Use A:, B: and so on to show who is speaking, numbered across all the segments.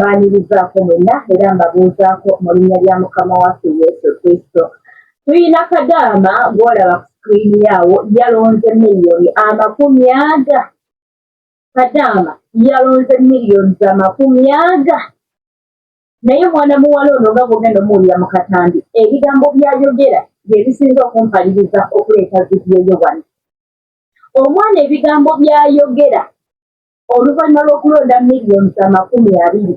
A: baanirizaako mwenna era mbabuuzaako mu linnya lya mukama waffe yesu kristo tulina kadaama gw'olaba ku sikiriini yaawo yalonze miliyoni amakumi aga kadaama yalonze miliyoni za makumi aga naye mwana muwala ono nga bwogenda omuwulira mu katambi ebigambo byayogera byebisinza okumpaliriza okuleeta vidiyo yo wano omwana ebigambo byayogera oluvannyuma lw'okulonda miliyoni za makumi abiri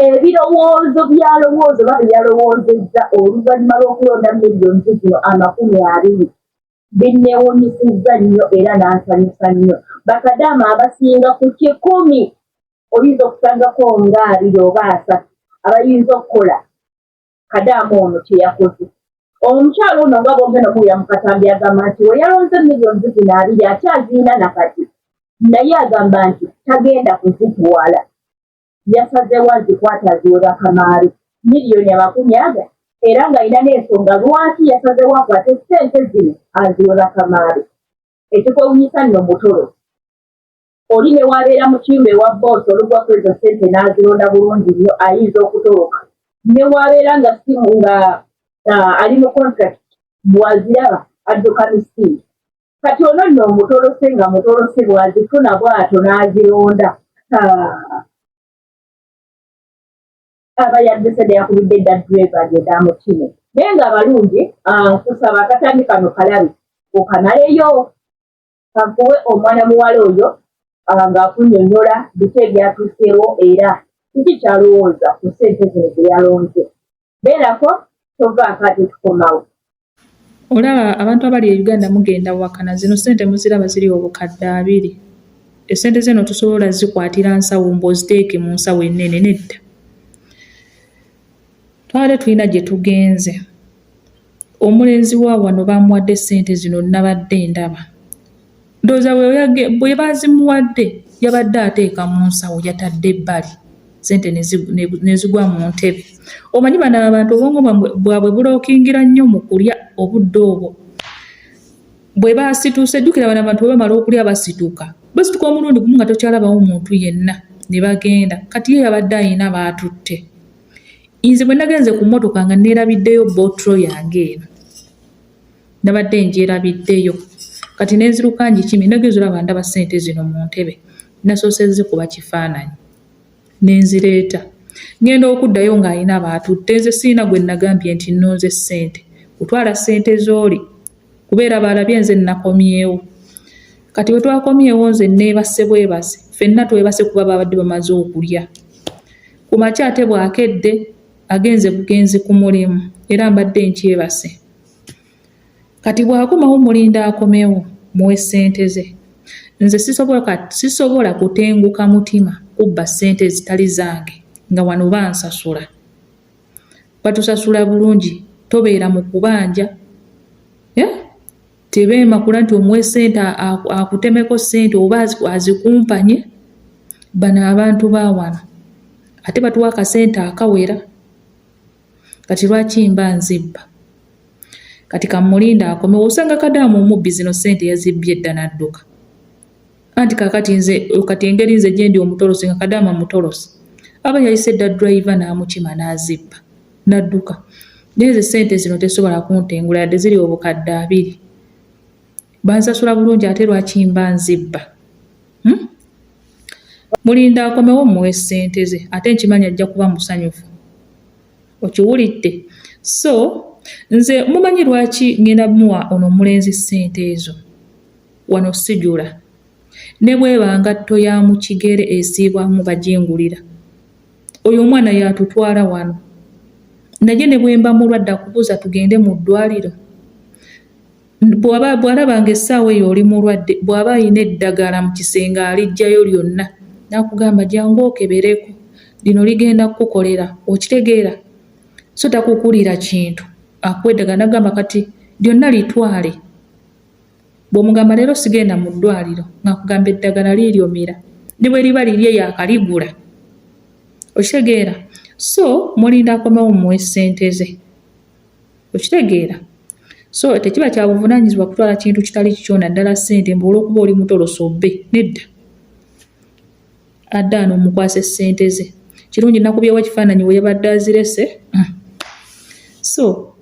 A: ebirowoozo byalowoozo oba byeyalowoozezza oluvannyuma lw'okulonda miliyoni ze zino amakumi abiri binneewunyisizza nnyo era n'ansanyusa nnyo bakadaama abasinga ku kikumi oyinza okusangako nga abiri oba asatu abayinza okukola kadaama ono kyeyakoze omukyalo ono nga bogenda okuwulira mu katambi agamba nti weyalonze miliyoni zikina abiri akyaziina nakati naye agamba nti tagenda kuzitwala yasazewa nti kwataziwe bakamaalo miliyoni amakumi aga era ng'alina n'ensonga lwaki yasazewo akwate ssente zino aziwe bakamaalo ekikwewunyisa nno mutoro Oli ne wabeera mu kiyumba ewa bboosi olugwa ku ezo ssente n'azironda bulungi nnyo ayinza okutoloka ne wabeera nga si nga ah, ali mu contract bw'aziraba adduka misiingi kati ono nno omutolose nga mutolose bw'azifuna bw'ato n'azironda ah. aba yadduse neyakubidde dda driva lyedamukine naye nga abalungi ah, nkusaba akatandi kano kalabi okamaleyo kankuwe omwana muwala oyo ah, ng'akunyonyola biki ebyatuuseewo era kiki kyalowooza ku ssente zino ze yalonze beerako tovaako ate tukomawo olaba
B: abantu abali e uganda mugenda wakana zino ssente muziraba ziri obukadde abiri esente zeno tusobola zikwatira nsawo mbu oziteeke mu nsawo enene nedda Twabadde tulina gye tugenze. Omulenzi wa wano baamuwadde ssente zino nnabadde ndaba. Ndowooza bwe baazimuwadde yabadde ateeka mu nsawo yatadde ebbali ssente ne zigwa mu ntebe. Omanyi bano abantu obwongo bwabwe bulookingira nnyo mu kulya obudde obwo. bwe baasituuse jjukira bana bantu bwe bamala okulya basituka basituka omulundi gumu nga tokyalabawo muntu yenna ne bagenda kati ye yabadde ayina baatutte nze bwe nagenze ku mmotoka nga neerabiddeyo bootro yange eno nabadde ngyerabiddeyo kati nenziruka ngikimi nagenze olaba ndaba ssente zino mu ntebe nasoose zikuba kifaananyi nenzireeta ngenda okuddayo ng'alina baatutte nze sirina gwe nagambye nti nnonze ssente kutwala ssente z'oli kubeera baalabye nze nnakomyewo kati bwe twakomyewo nze nneebase bwebase ffenna twebase kuba baabadde bamaze okulya ku makya ate bw'akedde agenze bugenzi ku mulimu era mbadde nkyebase kati bw'akomawo mulinda akomewo muwe ssente ze nze sisobola kutenguka mutima kubba ssente ezitali zange nga wano bansasula batusasula bulungi tobeera mu kubanja eh? tebeemakula nti omuwe sente akutemeko sente oba azikumpanye bano abantu bawano ate batuwa akasente akawera kati lwaki mba nzibba kati kamulinda akomewo osanga kadaamu omubbi zino sente yazibbye edda n'adduka anti kakati nze kati engeri nze gyendi omutolosi nga kadaama mutolosi aba yayise dda driver n'amukima n'azippa n'adduka naye nze ssente zino tesobola kuntengula yadde ziri obukadde abiri bansasula bulungi ate lwaki mba nzibba hmm? mulinda akomewo muwe ssente ze ate nkimanyi ajja kuba musanyufu okiwulidde so nze mumanyi lwaki ngenda muwa ono omulenzi ssente ezo Wano sijula. Ne bw'eba ngatto ya mu kigere esiibwamu bajingulira. Oyo omwana y'atutwala wano. Naye ne bwe mba mulwadde akubuuza tugende mu ddwaliro? Bw'alaba ng'essaawa eyo oli mulwadde, bw'aba alina eddagala mu kisenge aliggyayo lyonna n'akugamba jangu okebereko, lino ligenda kukukolera. Okitegeera? So takukulira kintu, akuwa eddagala n'akugamba kati lyonna litwale. Bw'omugamba leero sigenda mu ddwaliro ng'akugamba eddagala liiri omira ne bwe liba lirye yaakaligula. Okitegeera? So mulinda akomewo mumuwe ssente ze. Okitegeera? So tekiba kya buvunaanyizibwa kutwala kintu kitali kikyo naddala ssente mbu olw'okuba oli muto losobbe. Nedda. Adda ano omukwase ssente ze. Kirungi nakubyewo ekifaananyi we yabadde azirese. Hmm. So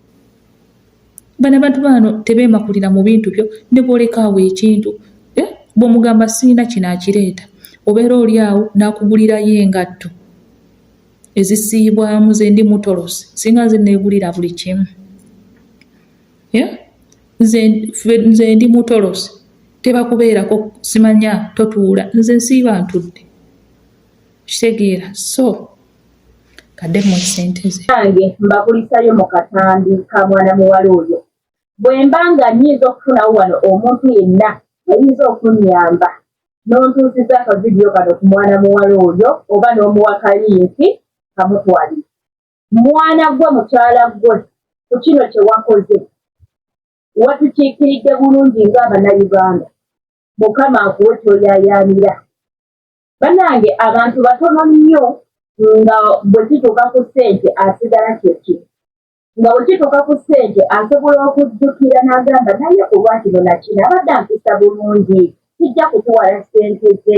B: bano abantu baano tebeemakulira mu bintu byo ne bwolekaawo ekintu eh, bw'omugamba sirina kino akireeta obeera oli awo n'akugulirayo engatto ezisiibwamu ze ndi mutolosi singa nze neegulira buli kimu eh, nze ndi mutolosi tebakubeerako simanya totuula nze nsiiba ntudde kitegeera so kadde mu sente ze nange mbakulisayo
A: mu katambi ka mwana muwala oyo bwe mba nga nnyinza okufunawo wano omuntu yenna ayinza okunnyamba n'ontuusiza akavidiyo kano ku mwana muwala oyo oba n'omuwakayi nti kamutwali mwana gwe mukyala gwe ku kino kye wakoze watukiikiridde bulungi ng'abannayuganda mukama akuwe kyoyayaanira banange abantu batono nnyo nga bwe kituuka ku ssente asigala kyeki nga bwe kituuka ku ssente asobola okujjukira n'agamba naye kulwa kino nakino abadde ampisa bulungi kijja kutuwala ssente ze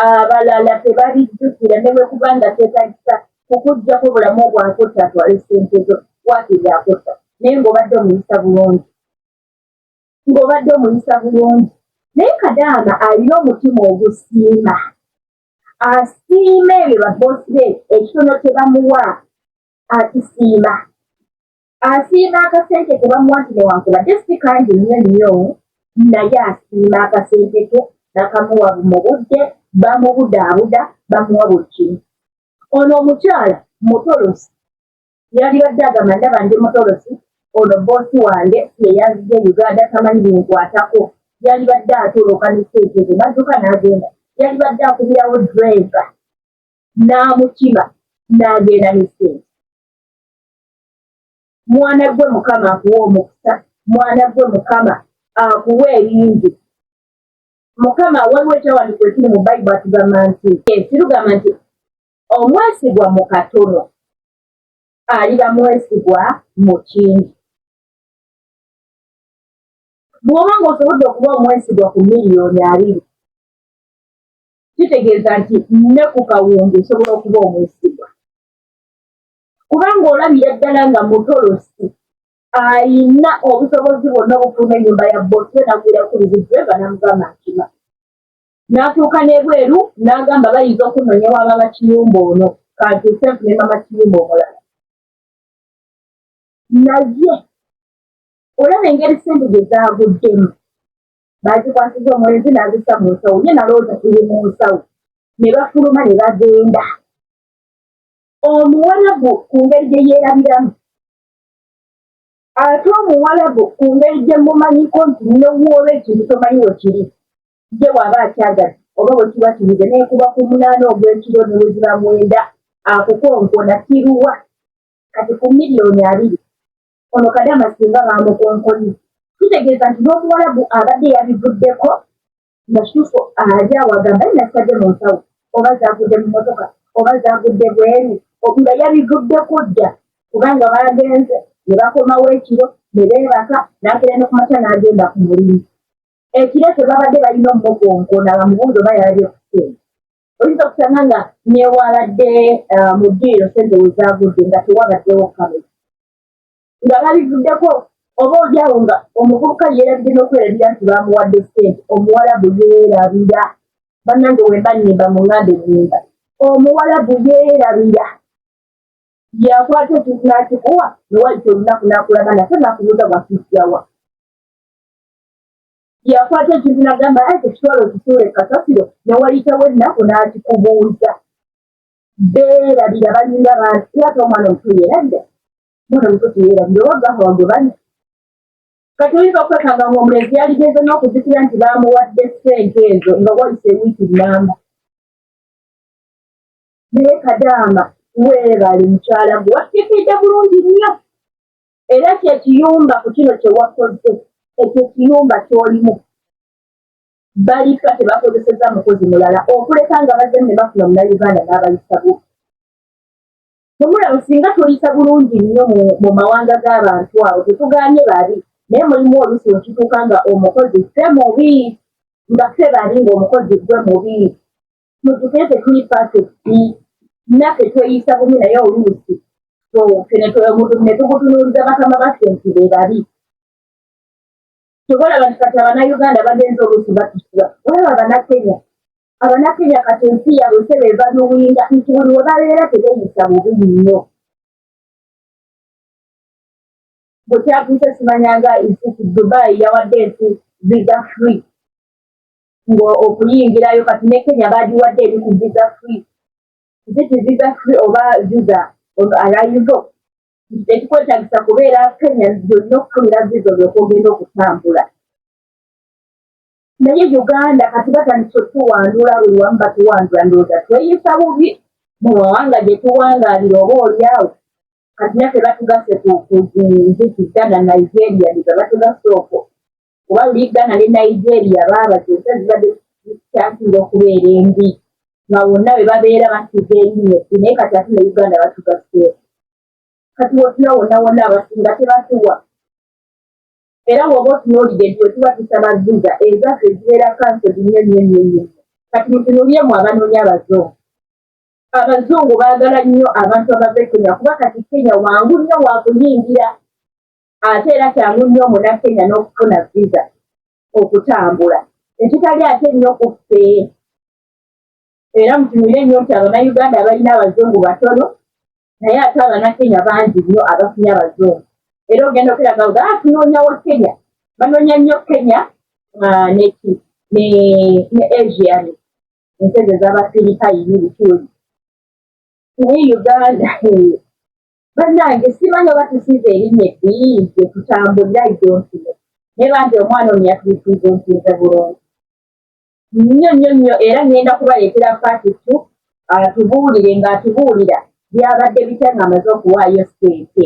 A: abalala tebabijjukira ne bwe kuba nga kyetagisa kukuggyako bulamu obwakutta atwala essente zo wakiri akutta naye ng'obadde omuyisa bulungi ng'obadde omuyisa bulungi naye kadaama alina omutima ogusiima asiima ebyo baboosi be ekitono kye bamuwa akisiima asiima akasente ke bamuwa nti newankubadde si kangi nnyo nnyo naye asiima akasente ke nakamuwa mu budde bamubudaabuda bamuwa buli kimu ono omukyala mutolosi yandibadde agamba ndaba ndi mutolosi ono boosi wange yeyanzija uganda tamanyi binkwatako yalibadde atoloka neseetezo nadduka n'agenda yalibadde akubirawo driva n'amukima n'agenda neseete mwana gwe mukama akuwa omukisa mwana gwe mukama akuwa ebingi mukama waliwo ekyawandikwa ekiri mu bayibuli atugamba nti ekirugamba nti omwesigwa mu katono aliba mwesigwa mu kingi bw'oba ng'osobodde okuba omwesigwa ku miliyoni abiri kitegeeza nti ne ku kawumbi osobola okuba omwesigwa kubanga olabira ddala nga mutolosi ayina obusobozi bwonna obufuluma ennyumba ya bosi enagwira ku bizijjwe banamugamba nkima n'atuuka n'ebweru n'agamba bayinza okunoonya wa mama kiyumba ono kantuuse nfune mama kiyumba omulala naye olaba engeri sente gye zaaguddemu baazikwasiza omulenzi n'azisa mu nsawo ye nalowooza tuli mu nsawo ne bafuluma ne bagenda omuwalabu ku ngeri gye yeerabiramu ate omuwalabu ku ngeri gye mumanyiko nti newoola ekintu tomanyi we kiri ye bw'aba akyagala oba bwe kiba kibuze n'ekuba ku munaana ogw'ekiro ne weziba mwenda akukonkona kiruwa kati ku miliyoni abiri ono kadama singa baamukonkonye kitegeeza nti n'omuwalabu abadde yabivuddeko nga kituufu ali awagamba ye nasadde mu nsawo oba zaagudde mu motoka oba zaagudde bweri nga yabivuddeko dda kubanga baagenze ne bakomawo ekiro ne beebaka n'akeera ne ku makya n'agenda ku mulimu ekiro ekyo babadde balina omukonkona bamubuuza oba yalabye ku sente oyinza okusanga nga newaladde uh, mu ddiiro sente wezagudde nga tewabaddewo kamera nga babivuddeko oba olyawo nga omuvubuka yeerabidde n'okwerabira nti bamuwadde sente omuwalabu yeerabira bannange wemba nnimba mu nganda ennyimba omuwalabu yeerabira yakwata ekintu n'akikuwa newayita olunaku n'akulaba nate n'akubuuza bwakijjawa yakwata ekintu nagamba ae tekitwala okisuula ekasasiro newayitawo ennaku n'akikubuuza beerabira balinga bantu ate omwana omutu yeerabira mwana omutu teyeerabira oba gaha wagwe bali kati oyinza okwekanga nga omulenzi yaligeze n'okuzikira nti baamuwadde ssente ezo nga wayise ewiiki nnamba naye kadaama weebale mukyala gwe wakikiidde bulungi nnyo era kyekiyumba ku kino kyewakoze ekyo ekiyumba kyolimu balifa tebakozeseza mukozi mulala okuleka nga bazemu nebafuna munauganda nabayisa bu tomulamu singa tuyisa bulungi nnyo mu mawanga g'abantu abo tetuganye bali naye mulimu olusi wekituuka nga omukozi fe mubi nga fe bali ngaomukozi gwe mubi mujukire tetuli pafekiti naffe tweyisa bubi naye oluusi fenetwemudumu netugutunuuliza bakama baffe nti be babi kyobalaba nti kati abanauganda bagenza oluusi batusula olaba abanakenya abanakenya kati ensi yabwe se bebaluwinga nti buli webabeera tebeyisa bubi nnyo bwekyakuise simanyanga isi dubai yawadde ensi viga free ngo okuyingirayo kati ne kenya bagiwadde eri ku visa free ziti visa free oba visa on arrival tekikwetagisa kubeera kenya gyolina okufunira visa olyokwogenda okutambula naye uganda kati batandisa okutuwandula buli wamu batuwandula ndowooza tweyisa bubi mu mawanga gye tuwangaalira oba olyawo kati naffe batugase ku ziti uganda nigeria niza batugase okwo kuba luli ghana ne nigeria baabati ensa zibadde zikyasinga okubeera embi nga wonna we babeera basiza erinnya ebbi naye kati ate ne uganda batugaseeko kati wotula wonna wonna abasinga tebatuwa era woba otunuulidde nti wetuba tusaba viza ezaffe zibeera kanso zinyo nyo nyo nyo kati mutunulyemu abanoonya abazungu abazungu baagala nnyo abantu abava e kenya kuba kati kenya wangu nnyo wakuyingira ate era kyangu nnyo omunakenya n'okufuna viza okutambula ekitali ate nnyo ku ffe era mutunulire nnyo nti abanayuganda abalina abazungu batono naye ate abanakenya bangi nnyo abafunye abazungu era ogenda okiraga ga ah, tunoonya wa kenya banoonya nnyo kenya ah, neki ne asian enteze z'abafirika ibiri kiwezi naye uganda bannange simanyi oba tusiiza erinnya eddiyi gye tutambulira idontino naye bambi omwana ono yatulisinzentiiza bulungi nnyo nnyo nnyo era ŋŋenda kubaleetera paati tu atubuulire ng'atubuulira byabadde bitya ng'amaze okuwaayo ssente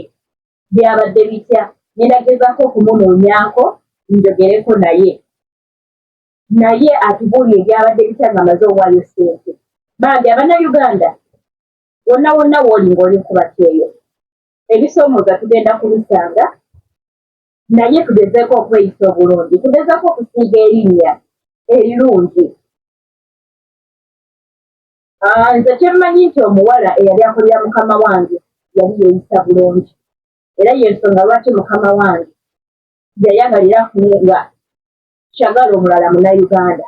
A: byabadde bitya ŋŋenda gezaako okumunoonyaako njogereko naye naye atubuulire byabadde bitya ng'amaze owaayo ssente bambi abannayuganda wonna wonna wooli ng'oli nkuba kyeyo ebisoomooza tugenda kubisanga naye tugezeeko okweyisa obulungi tugezeeko okusiiga erinnya erirungi ah, nze kyemmanyi nti omuwala eyali akolera mukama wange yali yeeyisa bulungi era yensonga lwaki mukama wange yayagalira afune nga Shagala omulala Munayuganda.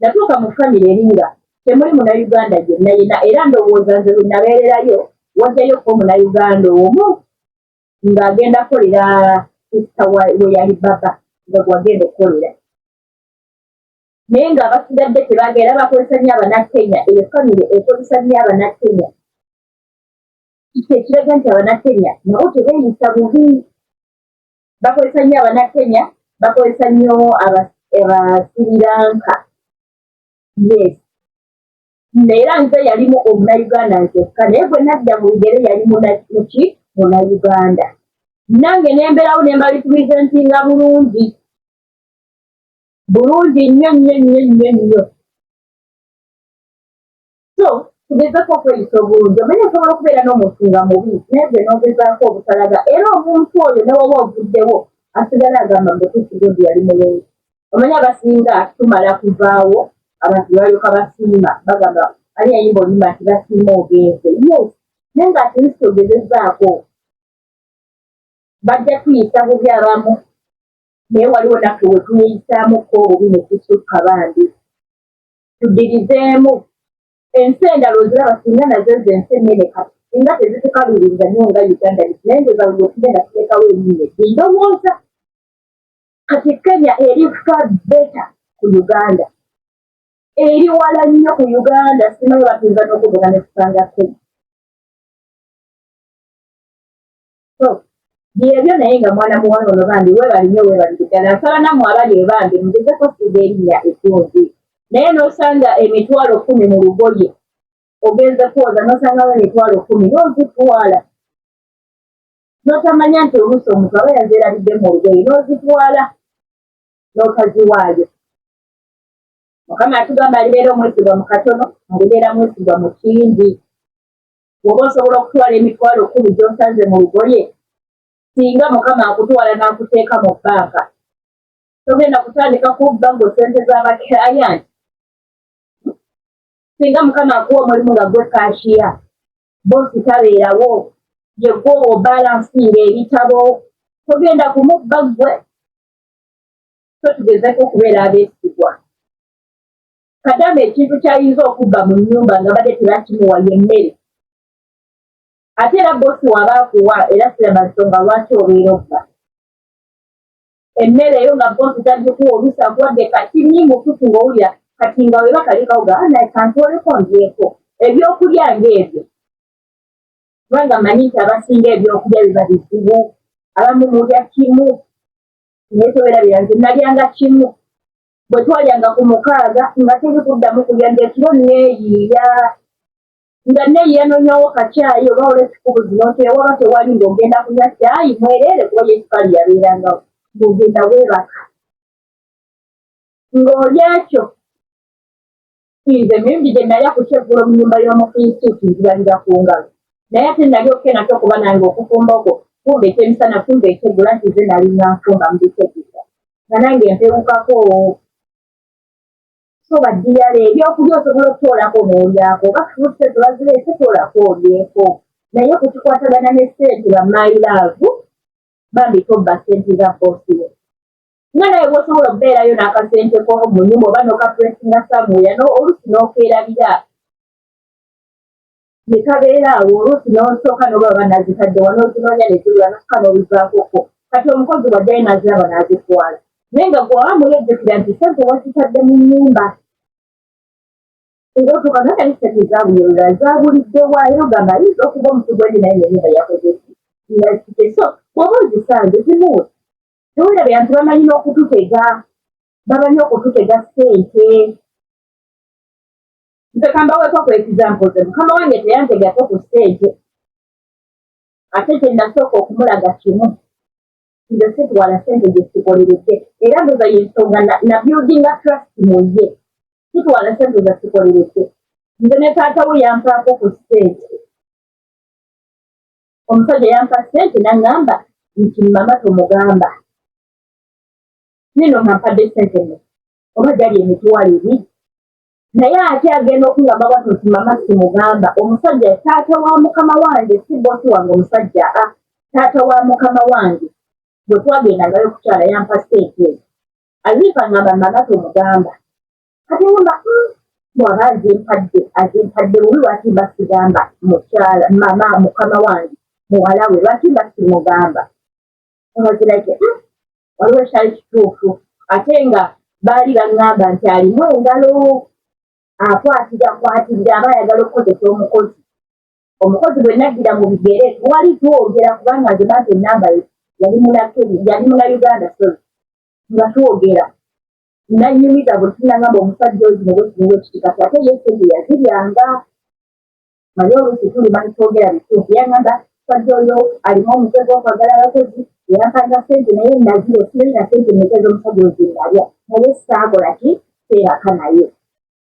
A: Natuuka mu famire eri nga temuli Munayuganda yenna yenna era ndowooza nze lwe nabeererayo wajjayo ko Munayuganda omu ng'agenda kukolera sisita we yali baba nga gwagenda okukolera naye nga abasigadde tebaga era bakozesa nnyo abanakenya eyo famire ekozesa nnyo abanakenya kyekiraga nti abanakenya nabo tebeeyisa bubi bakozesa nnyo abanakenya bakozesa nnyo abasiriranka yes era nze yalimu omunayuganda nzekka naye gwe nadda mu bigere yali muki munayuganda nange nemberawo nembalipresentinga bulungi bulungi nnyo nnyo nnyo nnyo nnyo so tugezeko okweyisa obulungi omanye osobola okubeera n'omuntu nga mubi naye gwe n'ogezaako obutalaga era omuntu oyo newoba ovuddewo asigala agamba mbekukigondi yali mulungi omanye abasinga tumala kuvaawo abantu bebaloka basiima bagamba ani yayimba oluyimba nti basiima ogenze yes naye nga atleast ogezezaako bajja tuyisa bubi abamu naye waliwo naffe wetuyeyisaamu ko obubi netusukka bandi tudirizeemu ensi endala oziraba singa nazo ezo ensi ennene kati singa tezitukalubiriza nyo nga uganda naye nze zawuli okugenda kuteekawo erinnya endowooza kati kenya eri fa beta ku uganda eri wala nnyo ku uganda simanyi batuyinza n'okuvuga ne kusanga kenya byebyo naye nga mwana muwala ono bambi webali nyo webali kudala nsaba namwe abali ebambi mugezeko siga erinnya eddungi naye nosanga emitwalo kumi mu lugoye ogenze kwoza nosangawo emitwalo kumi nozitwala notamanya nti oluusi omuntu aba yazeerabidde mu olugoye nozitwala nokaziwaayo mukama atugamba alibeera omwesigwa mu katono alibeera mwesigwa mu kingi woba osobola okutwala emitwalo kumi gyosanze mu lugoye singa mukama akutwala n'akuteeka mu bbanka togenda kutandika kubba ngo sente za bakirayant singa mukama akuwa omulimu nga gwe kashiya bosi tabeerawo yegwe owo balansinga ebitabo togenda kumubba ggwe so tugezeko okubeera abeesigwa kagamba ekintu kyayinza okubba mu nyumba nga badde tebakimuwa yemmere ate era bosi waba akuwa era siraba nsonga lwaki obeera obba emmere eyo nga bosi tagikuwa olusa akuwadde kakinyi mutufu ngaowulira kati nga weba kalikawo ga naye kantwoleko ndyeko ebyokulya ngaebyo kubanga manyi nti abasinga ebyokulya biba bizibu abamu mulya kimu naye tewera byanze nalyanga kimu bwe twalyanga ku mukaaga nga tuli kuddamu kulya ng'ekiro neeyiiya nga neeyiiya nonyawo kakyayi oba olwesikubuzi notewaba tewali ng'ogenda kunywa kyayi mwereere kuba yesukaali yabeerangawo ng'ogenda weebaka ng'oli ekyo nze emirundi gye nalya ku kyeggulo mu nnyumba y'omufiisiiti nzibalira ku ngalo naye ate nali okke nakyo kuba nange okufumba okwo fumba ekyemisana fumba ekyeggula nti nze nali nga nfumba mu bitegeera nga nange mpewukako so baddiyala ebyokulya osobola okutoolako n'olyako oba furuuti ezo bazireese toolako olyeko naye kukikwatagana ne ssente bamailaavu bambi tobba ssente za boosi we nga naye bwosobola okubeerayo n'akasente ko mu nyumba oba nokapulesinga samuya no olusi nokeerabira ne kabeera awo olusi nosooka noba oba nazitadde wanozinoonya nezirula nosuka nobivaakoko kati omukozi waddayo naziraba nazitwala naye nga gwewaba muli ojjukira nti sente wazitadde mu nyumba era otuuka naye naye sente zabuyolula zabuliddewa era ogamba ayinza okuba omutu gwendi naye nenyumba yakozesi nasikesoo bwoba ozisanze zimuwe tewerabe anti bamanyi n'okututega bamanyi okututega sente nze kambaweko ku example ze mukama wange teyantegako ku sente ate kyenasooka okumulaga kimu nze situwala sente gyesikoleredde era ndoza yensonga na buildinga trust mu ye situwala sente zasikoleredde nze ne taata we yampaako ku sente omusajja yampa sente nangamba nti mama tomugamba nino ngampadde sente no oba gyali emitwalo ebiri naye ate agenda okungamba bwati nti mama simugamba omusajja taata wa mukama wange si bosi wange omusajja a taata wa mukama wange bwe twagendangayo okukyala yampa sente ezo aziifa ngamba mama tomugamba kati ngamba hmm, bwaba azimpadde azimpadde bubi lwaki mba sigamba mukyala mama mukama wange muwala we lwaki mba simugamba omozirake hmm, waliwo ekyali kituufu ate nga baali baŋŋamba nti alimu engalo akwatira kwatidde aba ayagala okukozesa omukozi omukozi bwe naddira mu bigere wali twogera kubanga nze maze enamba yali muna uganda sorry nga twogera nanyumiza bwe tunangamba omusajja oyo kino bwekiringa ekitikaso ate ye sente yaziryanga naye oluusi tulima nitwogera bituufu yangamba musajja oyo alimu omutwe gw'okwagala abakozi yampanga sente naye naziro sirina sente meka ez'omusajja oyo zinalya naye saakola ki seeraka naye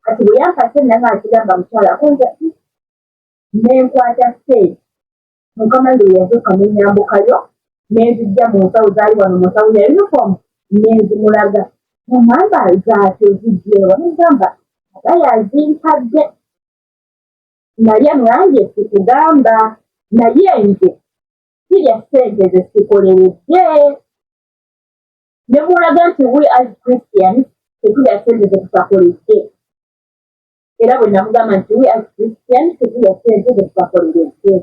A: kati bwe yampa sente nanga akigamba mukyala kunja nenkwata sente mukama nze yazuuka mu nyambuka yo nenzijja mu nsawo zaali wano mu nsawo ya uniform nenzimulaga namwamba zaakyo zijjeewa nengamba aba yazintadde naye nange sikugamba naye nze kirya ssente ze sikoleredde ne mulaga nti we as christian tekulya ssente ze tutakoledde era bwe namugamba nti we as christian tetuya sente zetubakolera ente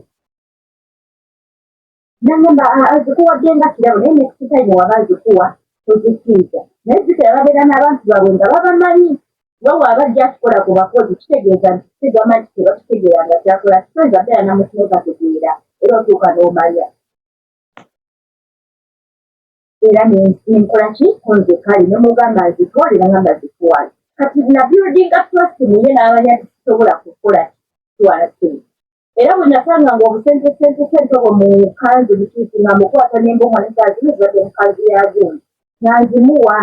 A: nangamba ah, azikuwadde nga kirabo naye next time waba azikuwa tozisiiza naye zikira babeera n'abantu baabwe nga babamanyi wawa abajja akikola ku bakozi kitegeeza nti kigamba nti tebakitegeera nga kyakola kitegeeza beera namutunogategeera era otuuka n'omanya era nenkola ki kunze kale nemugamba nzitwale nagamba zitwale kati nabyodinga prosi naye nabanya tisobola kukola kitwala kino era bwe nasanga nga obusentesentesente obwo mu kanzu bitiiti nga mukwata nembomanizazino zibadde mu kanzu yazo nanzimuwa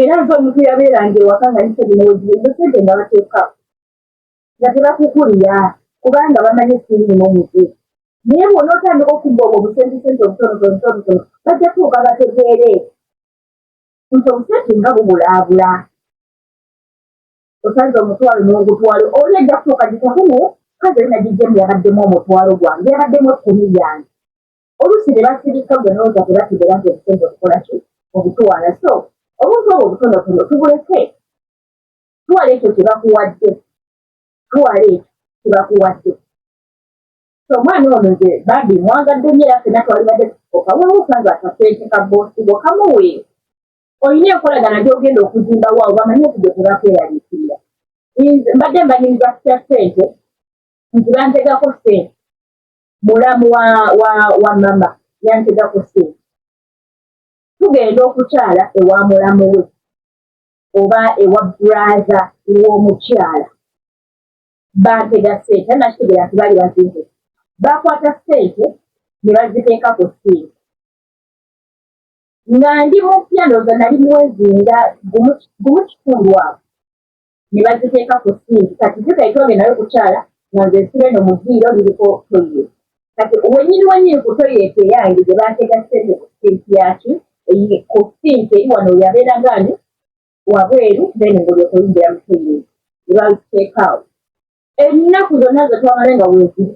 A: era nze omuntu yabeeranga ewaka nga nisebinewezibe nosente nga bateekaku nga tebakukulira kubanga bamanyi sirimu omuzi naye bwona otandika okubba obwo obusentesente obutonotonotonotono bajja tuuka bategeere nti obusente nga bubulaabula osanze omutwalo nogutwalo oli ajja kutuuka gitakumu kazi ena gijjemu yabaddemu omutwalo gwange yabaddemu ekkumi lyange oluusi ne basirika gwe nooza tebategera nti obusente obukola ki obutwala so obuntu obwo obutonotono tubuleke twala ekyo kyebakuwadde twala ekyo kyebakuwadde omwana ono nze babi mwagadde nyo era fena twalibadde tukoka waliwo kange akasente ka boosi bwo kamuwe olina enkolagana gyogenda okuzimba waawo bamanyi okugwe tebakweraliikirira mbadde mbanyumiza kutya sente nti bantegako sente mulamu wa wa wa mama yantegako sente tugenda okukyala ewa mulamu we oba ewa braza w'omukyala bantega sente ali nakitegera nti bali bazize bakwata sente ne baziteeka ku simu nga ndi mupya ndooza nali mwezi nga gumu kitundu awo ne baziteeka ku simu kati zikaitwage nayo kukyala nga nze nsira eno muviiro liriko toyiro kati wenyini wenyini kutoyo efe yange gyebantega sente ku sente yaki ku sente eri wano yabeera gani wabweru then ngolyokoyingira mutoyo lwalutekawo ennaku zonna zetwamale nga weziri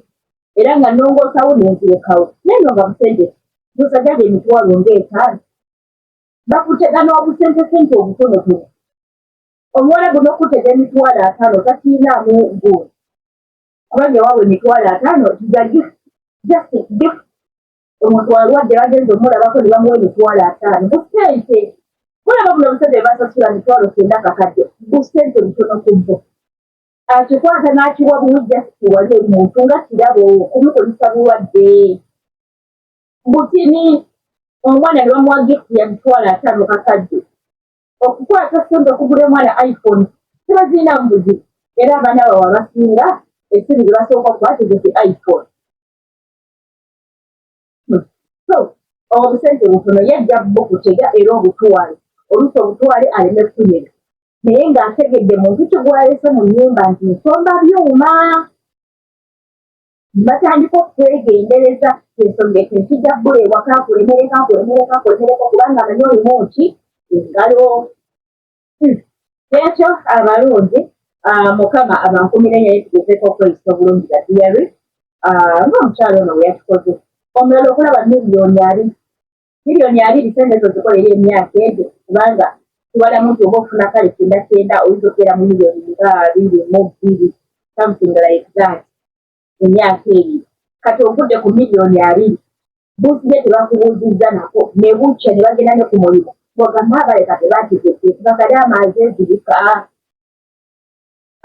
A: era nga nongosawo nenzirekawo naye no nga busente busajjaga emitwalo ngaetaano bakutega n'obusente sente obutonotono omuwala guno okutega emitwalo ataano takiinaamu gundi abanja wawe emitwalo ataano ja gift just gift omuntu alwadde bagenza omulabako ne bamuwa emitwalo ataano ku sente mulaba buno omusajja ebasasula mitwalo kyenda kakadde ku sente butono ku bo akikwata n'akiwa buwi just wali omuntu nga kirabo kumukozesa bulwadde butini omwana ne bamuwa gift ya mitwalo ataano kakadde okukwata sente okugula omwana iphone kiba zirina mbuzi era abaana bawe abasinga esimu zebasooka okubatizeki iphone hmm. so obusente butono yajja bukutega era obutwale oluusi obutwale aleme kukunyega naye ng'ategedde muntu kigwalese mu nnyumba nti nsomba byuma batandika okwegendereza ensonga ekyo nkijja bbula ewaka kulemereka kulemereka kulemereka kubanga manyi olimu ki engalo hmm. ekyo abalungi ah, mukama abankumire nyo yetugezeko okweyisa obulungi gadiyari ah, ngaomukyalo ono weyatukoze omulala okulaba miliyoni ali Milioni abiri sente ezo zikolera emyaka egyo kubanga kiwala muntu oba ofuna kale kyenda kyenda oyinza okubeera mu milioni nga abiri mu bbiri something like that emyaka eyo kati ogudde ku milioni abiri busibe tebakubuuzizza nako nebukya ne bagenda ne ku mulimu bogamba abaleka tebategedde bakali amaazi ezibika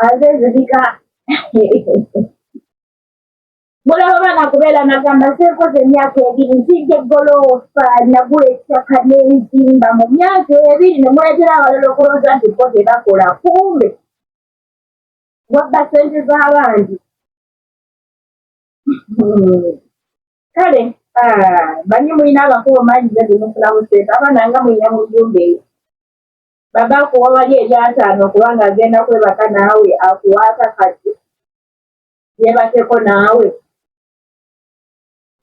A: aze ezibika Mulaba abaana kubeera nagamba nsenkoze emyaka ebiri nzijja eggoloofa nagula ettaka n'enzimba mu myaka ebiri ne muleetera abalala okulooza nti bo bye bakola kumbe wabba ssente z'abandi kale ah, banyi mulina abakubo mangi nyo gemufunamu ssente abaana nga mulina mu nyumba eyo baba akuwa wali ebyataano kubanga agenda kwebaka naawe akuwaata kati yebateko naawe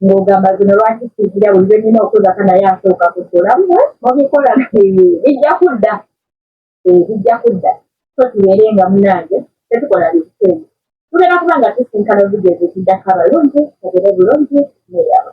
A: ng'ogamba zino lwaki sizira buli lwe nnina okuzako naye asooka kusola mwe mubikola bijja kudda eh, bijja kudda so tubeere nga munange tetukola bikisenge tugenda kuba nga tusinkana obugeezi ekiddako abalungi tugere bulungi neyaba